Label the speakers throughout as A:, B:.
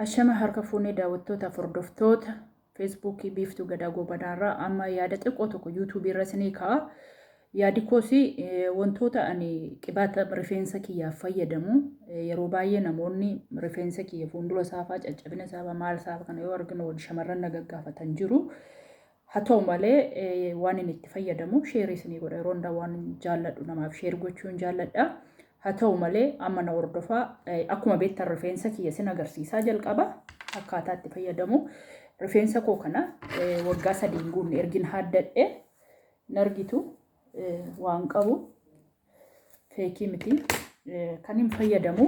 A: Ashama harka fuunee daawwattootaaf hordoftoota feesbuukii biiftuu gadaa goobanaarraa amma yaada xiqqoo tokko yuutuubii irra isinii ka'a. Yaadi koos wantoota ani qibaata rifeensa kiyyaaf fayyadamu yeroo baay'ee namoonni rifeensa kiyya fuuldura isaafaa caccabina isaafaa maal isaafaa kana yoo arginu shamarran na gaggaafatan jiru. Haa ta'u malee waanin itti fayyadamu share isinii godha yeroo hundaa waan jaalladhu namaaf share gochuun jaalladha. Haa ta'u malee amma na hordofaa akkuma beektan rifeensa kiyya sin agarsiisaa jalqaba akkaataa itti fayyadamu rifeensa koo kana waggaa sadii hin guunne ergin haaddadhe nargitu waan qabu feekii miti kan hin fayyadamu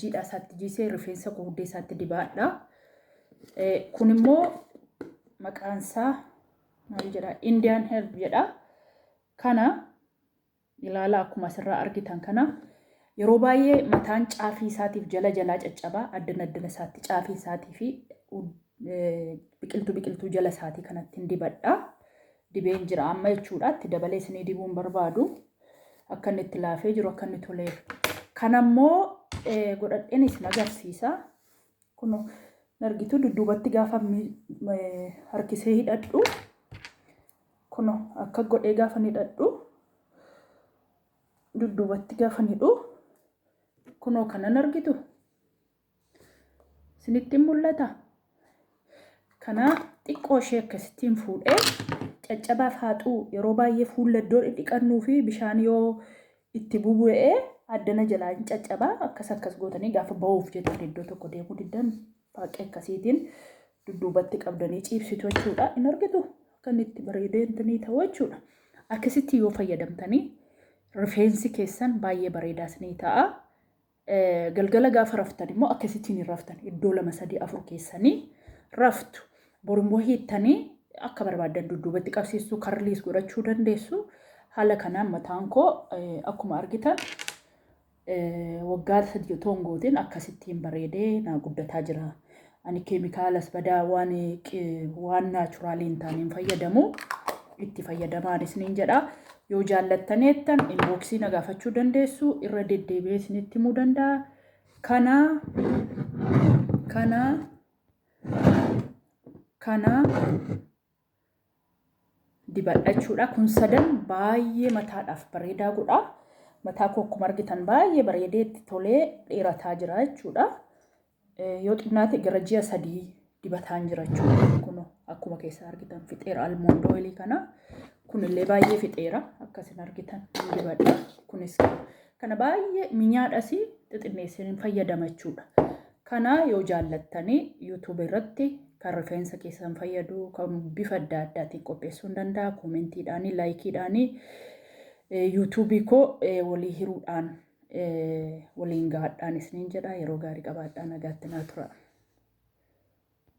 A: jiidhaa isaatti jiisee rifeensa guurdee isaatti dibaadha. Kun immoo maqaan isaa maal jedha? Indian herb jedha. Kana ilaala akkuma asirraa argitan kana yeroo baay'ee mataan caafii isaatiif jala jalaa caccabaa addana addana isaatti caafii isaatii fi biqiltuu biqiltuu jala isaatii kanattiin dibadha. Dibeen jira amma jechuudha. Itti dabalee isinii dibuun barbaadu. Akka inni itti laafee jiru akka inni toleef. Kan ammoo godhadheen isin agarsiisa. Kun argituu dudduubatti gaafa harkisee hidhadhu. Kun akka godhee gaafa hidhadhu. Dudduubatti gaafa hidhu. Kunoo kanan argitu. Isinitti mul'ata? Kana xiqqoo ishee akkasittiin fuudhee caccabaaf haaxuu yeroo baay'ee fuulla iddoo dhidhiqannuu fi bishaan yoo itti bubu'ee addana jalaa hin caccabaa akkas akkas gootanii gaafa ba'uuf jettan iddoo tokko deemuu diddan baaqee akkasiitiin dudduubatti qabdanii ciibsitu jechuudha. Hin argitu akka inni itti bareedee intinii ta'u jechuudha. Akkasitti yoo fayyadamtanii rifeensi keessan baay'ee bareedaa isinii ta'a. Galgala gaafa raftan immoo akkasitiin hin raftan. Iddoo lama sadii afur keessanii raftu. Bor immoo hiittanii akka barbaaddan dudduubatti qabsiistuu karliis godhachuu dandeessu. Haala kanaan mataan koo akkuma argitan waggaa sadii otoo hin gootiin akkasittiin bareedee naa guddataa jira. Ani keemikaalas badaa waan waan naachuraalii hin taane hin fayyadamu. Itti fayyadamaan isiniin jedha. Yoo jaallattaneettan inbooksii na gaafachuu dandeessu irra deddeebi'ee isinitti himuu danda'a. Kana kana kana dibadha jechuudha. Kun sadan baay'ee mataadhaaf bareedaa godha. Mataa koo akkuma argitan baay'ee bareedee itti tolee dheerataa jira jechuudha. Yoo xinnaate gara ji'a sadii dibataan jira jechuudha. Kun akkuma keessa argitan fixeera almoond oilii kana. Kunillee baay'ee fixeera akkasin argitan dibadha. Kunis Kana baay'ee minyaadhas xixinneessee hin fayyadama jechuudha. Kana yoo jaallattanii YouTube irratti kan rifeensa keessan fayyadu kan bifa adda addaatiin qopheessuu hin danda'a. Koomentiidhaanii, laayikiidhaanii, YouTube koo walii hiruudhaan waliin gaadhaan isiniin jedha. Yeroo gaarii qabaadhaa nagaatti naa tura.